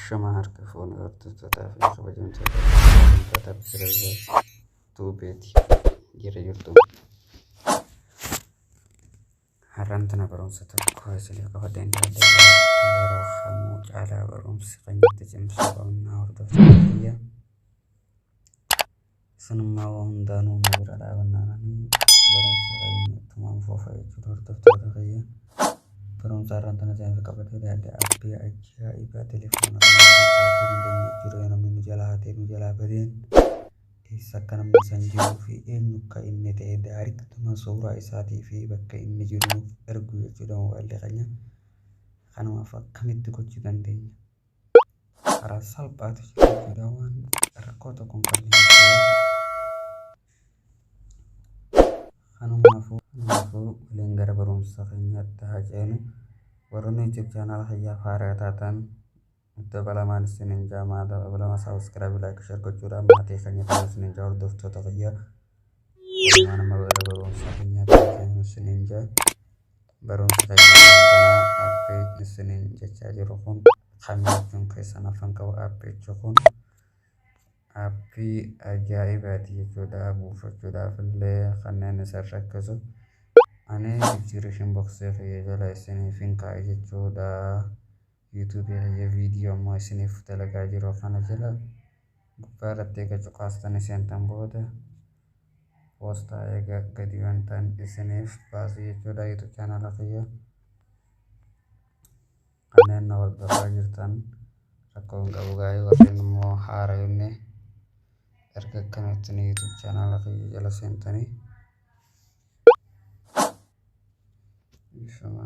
Shama harka fuune hordoftotaa fi kabajamtoota kabajamtoota biroo tuubeeti jira jirtu. Har'aan tana barumsa tokko isinii qofa danda'adha. Yeroo kamuu caalaa barumsi kan itti cimsu qabna hordoftoota biyya. Isinummaa waa hundaanuu na bira dhaabannaan ani barumsa qabeenya ittumaan foofa jechuudha hordoftoota kiyya. Barumsa har'aan tana seensa qabatee dhiyaadhe appii ajaa'ibaa telefoona kana hojjechuu hin dandeenye jechuudha yoo namni nu jalaa hatee nu jalaa badeen eessa akka namni san jiruu fi eenyu akka inni ta'e daariktuma suuraa isaatii fi bakka inni jiru nuuf ergu jechuudha mobaayilli keenya. Kanumaaf akkamitti gochuu dandeenya? karaa salphaatu jira jechuudha waan rakkoo tokko hin qabne jechuudha. Kanumaafuu kanumaafuu waliin gara barumsa keenyaatti haa ceenu. Warroonni YouTube channel kiyyaaf haaraa taatan dabalamaan isiniin jaamaa dabalama subscribe like share gochuudhaan maatii keenya ta'aa isiniin jaa hordoftoota kiyyaa. Namaa nama irra barumsaa keenyaa taateen isiniin jaa barumsa keenyaa kanaa appii isiniin jechaa jiru kun kamiichuun keessan afan qabu appiichu kun appii ajaa'ibaati jechuudha buufachuudhaaf illee kanneen isin rakkisu ani jijjiirishin boksee kiyya jala isiniif hin kaa'a jechuudha. Youtube kiyya video amma isiniif dalagaa jiru kana jala gubbaa irratti eega cuqaastanii seentan booda poostaa eega gadi bantan isiniif baasu jechuudha youtube channel kiyya kanneen na hordofaa jirtan rakkoo hin qabu gaa'ee warreen immoo haara yoonne erga akkanatti ni youtube channel kiyya jala seentanii Ifama.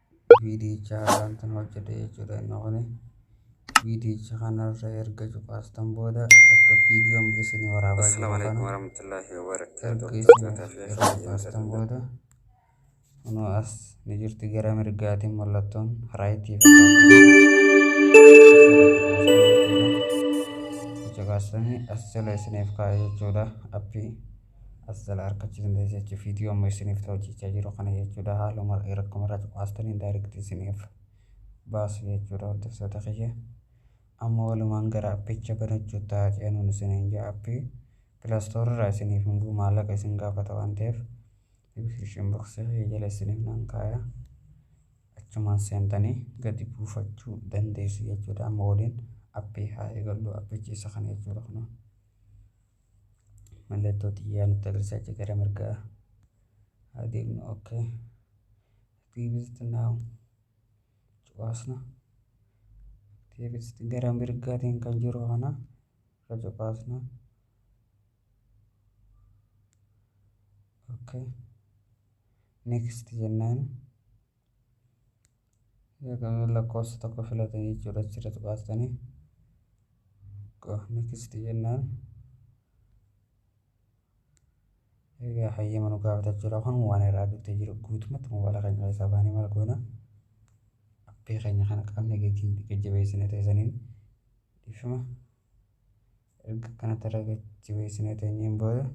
viidiyicha haaraamtan hojjedhe jechuudha inni kuni viidiyicha kanarra erga cuqaastan booda akka viidiyoon isin waraabaa jiru kana erga isin erga cuqaastan booda kunoo as ni jirti gara mirgaatiin mallattoon raayitii fakkaatu cuqaastanii as jala isiniif kaa'e jechuudha appii as jala argachuu dandeessu jechuudha. Viidiyoo amma isiniif ta'u hojjechaa jiru kana jechuudha. Haaluma rakkoo irraa cuqaastanii daayirikti isiniif baasu jechuudha hordoftoota kiyya. Amma walumaan gara appicha banachuu ta'a ceenuun isiniin ja'a appii pilaastoorri irraa isiniif hin bu'u maallaqa isin gaafata waan ta'eef diskiripshin boksii kiyya jala isiniif nan kaaya. Achumaan seentanii gadi buufachuu dandeessu jechuudha. Amma waliin appii haa eegallu appichi isa kana jechuudha kunoo. mallattoo xiyyaa nutti agarsiisaa jira gara mirgaa haa deemnu ok activist now cuqaasna activist gara mirgaatiin kan jiru kana irra cuqaasna ok next jennaan Yookaan lakkoofsa tokko filatan jechuudha achirra tuqaastanii. Next jennaan. Egaa hayyama nu gaafata jechuudha kun waan irraa duttee jiru guutumatti moobaala keenya keessaa baanee maal goona. Appii keenya kana qaamni gatiin jajjabeessine teessaniin dhiifama. Erga kanatti irra jajjabeessine teenyeen booda.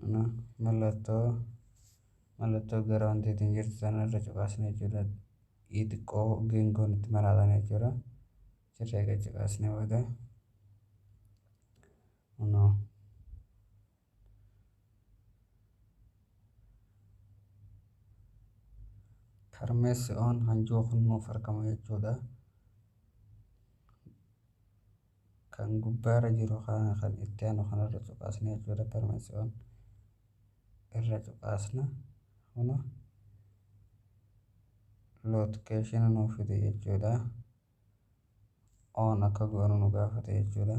Kana mallattoo mallattoo gara wanti ittiin jirtu sana irra cuqaasna jechuudha. Ii xiqqoo geengoon itti maraatan jechuudha. Sirrii akka cuqaasne booda kunoo karmeessi oon hanjoo kun nuuf argama jechuudha. Kan gubbaarra jiru kana kan itti aanu kanarra cuqaasna jechuudha. Permanence on irra cuqaasna. Kuno location nuuf fide jechuudha. On akka goonu nu gaafate jechuudha.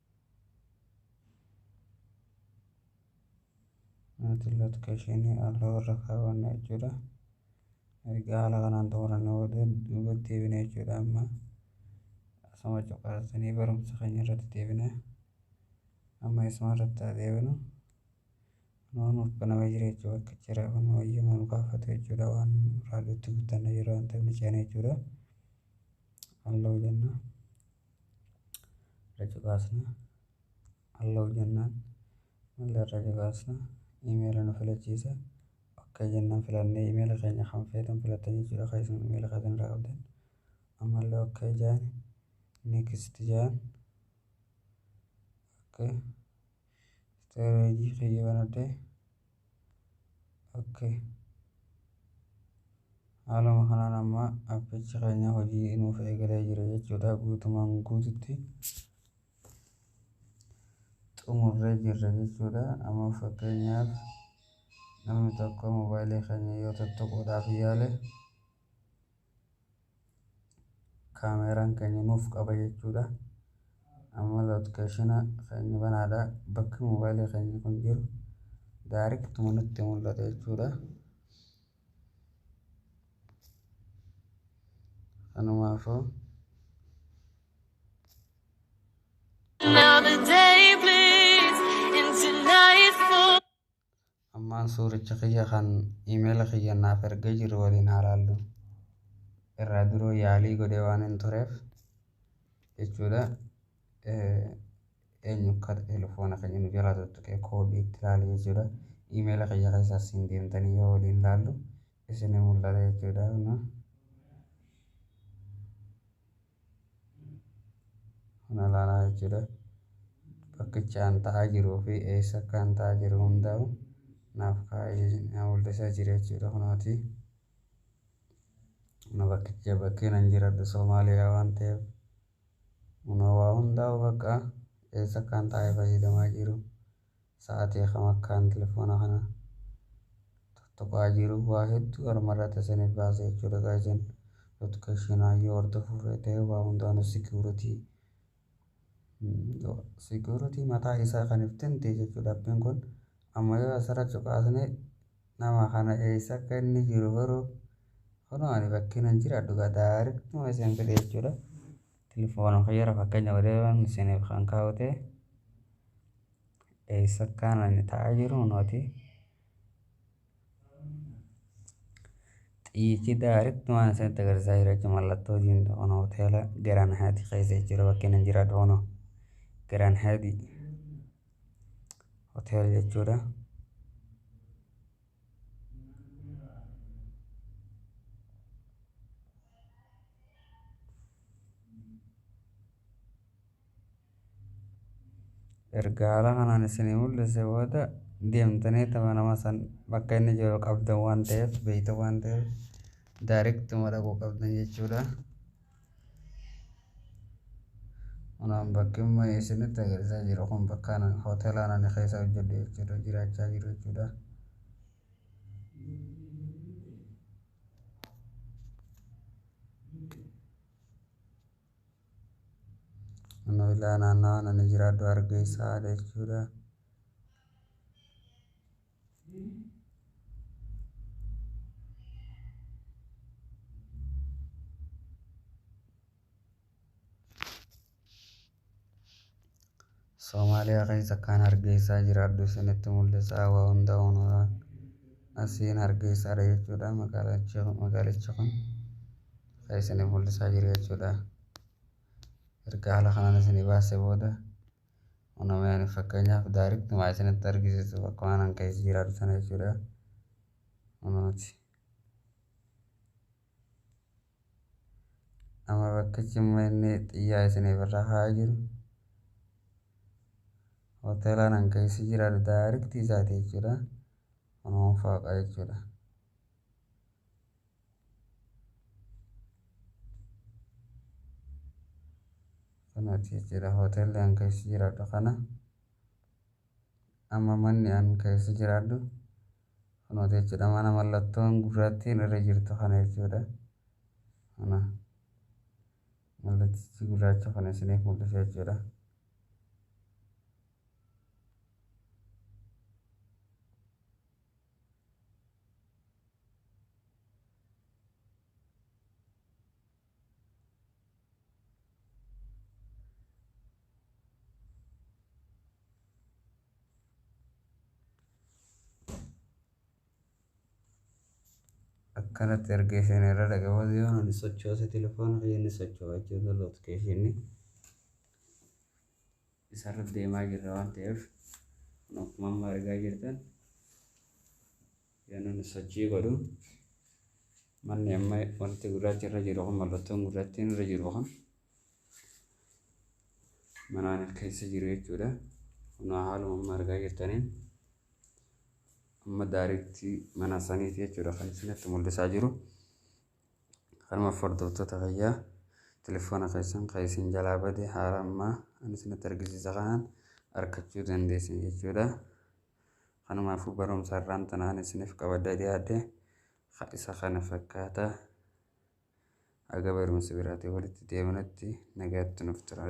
Maatiin lotka isheenii haala warra kaawwanna jechuudha. Erga haala kanaan xumuranne booda duubatti deebina jechuudha amma. Asuma cuqaasanii barumsa keenya irratti deebina. Amma isuma irratti haa deebinu. Kunoo nuuf banamee jira jechuudha akka jira kun wayyuma nu gaafatu jechuudha waan raadiyotti guddanna yeroo waan ta'eef ni ceena jechuudha. Halloo jenna. irra cuqaasna allow jennaan mail irra cuqaasna email nu filachiisa ok jennaan filannee email keenya kan feetan filattan jechuudha kan isin email keessan irraa qabdan ammallee ok jaan next jaan ok Storage kiyya banadhe. Okay. Haaluma kanaan amma appichi keenya hojii nuuf eegalee jira jechuudha. Guutumaan guututti xumurree jirra jechuudha. Amma fakkeenyaaf namni tokko moobaayilii keenya yoo tuttuquudhaaf yaale kaameeraan keenya nuuf qaba jechuudha. Amma lootikeeshina keenya banaadha. Bakki moobaayilii keenya kun jiru daariktuma nutti mul'ata jechuudha. Kanumaafuu Another day bleeds into nightfall. Ammaan suuricha kiyya kan email kiyya naaf ergee jiru waliin haa laallu. Irraa duroo yaalii godhee waan hin tureef jechuudha. Eenyu akka telefoona keenya nu jalaa tuttuqee koodii itti ilaale jechuudha. Email kiyya keessa asiin deemtanii yoo waliin laallu isin mul'ata jechuudha. kana laanaa jechuudha bakkicha an ta'aa jiruu fi eessa akka an ta'aa jiru hundaa'u naaf kaa'ee mul'isaa jira jechuudha kunooti na bakkicha bakkeen an jiradhu soomaaliyaa waan ta'eef kunoo waa hundaa'u bakka eessa akka an ta'ee fayyadamaa jiru sa'atii kam akkaan telefoona kana tuttuqaa jiru waa hedduu armarratti isiniif baasa jechuudha gaa isin notification yoo hordofuu feete waa hundaanuu security security mataa isaa kan iftinti jechuudha appiin kun amma yoo asirra cuqaasne nama kana eessa akka inni jiru garuu kunoo ani bakkiin hin jiraadhu gaa daarektuma isin fide jechuudha Telefoona kiyyara fakkeenya godheeran isiniif kan kaa'ute eessa akkaan ani taa'aa jiru nooti xiyyiti daaritti waan isinitti agarsiisaa jira jechuun mallattoo diimtuu kun hoteela Garaan Haati keessa jechuudha bakkeen hin jira dhoono Garaan Haati hoteela jechuudha. erga haala kanaan isinii mul'ise booda deemtanii tama nama san bakka inni jiru qabdan waan ta'eef beeyta waan ta'eef daariktuma dhaquu qabdan jechuudha. Kunaan bakki amma isinitti agarsiisaa jiru kun bakka hoteelaan ani keessa hojjedhu jechuudha jiraachaa jiru jechuudha. Kunoo ilaa naannawaan ani jiraadhu hargeysaa jechuudha. Somaaliyaa keessa akkaan hargeysaa jiraadhu isinitti mul'isaa waa hunda unuraa asiin hargeysaadha jechuudha magaalichi magaalichi kun kan isinif mul'isaa jiru jechuudha erga haala kanaan isinii baasee booda Uumameen fakkeenyaaf daariitti maa isinitti argisiisu akkuma anan keessa jiraatu sana jechuudha. Uumamti. Amma bakkichi immoo inni xiyyaa isiniif irra haa jiru. Hoteela anan keessa jiraatu daariitti isaati jechuudha. Uumama fooqa jechuudha. Kanati jira hotel an keessa jiraadhu kana amma manni an keessa jiraadhu kunoota jechuudha mana mallattoon gurraattiin irra jirtu kana jechuudha kana mallattichi gurraacha kana isiniif mul'isa jechuudha akkanatti erga isheen irra dhaqabatu yoo inni sochoose telefoona kiyya inni socho'aa jechuudha lootikeeshinni isarra deemaa jirra waan ta'eef kun akkuma amma argaa jirtan yoon inni sochii godhu manni amma wanti gurraachi irra jiru kun mallattoon gurraattiin irra jiru kun manaan keessa jiru jechuudha kun haaluma amma argaa jirtaniin amma daariitti mana saniiti jechuudha kan isinitti mul'isaa jiru. Kanumaaf hordoftoota kiyya telefoona keessan kan isin jalaa bade haala amma ani isinitti argisiisa kanaan arkachuu dandeessan jechuudha. Kanumaafuu barumsa irraan tanaan isiniif qabadda dhiyaadhe isa kana fakkaata. Aga barumsa biraatiin walitti deebinutti nagaatti nuuf turaa.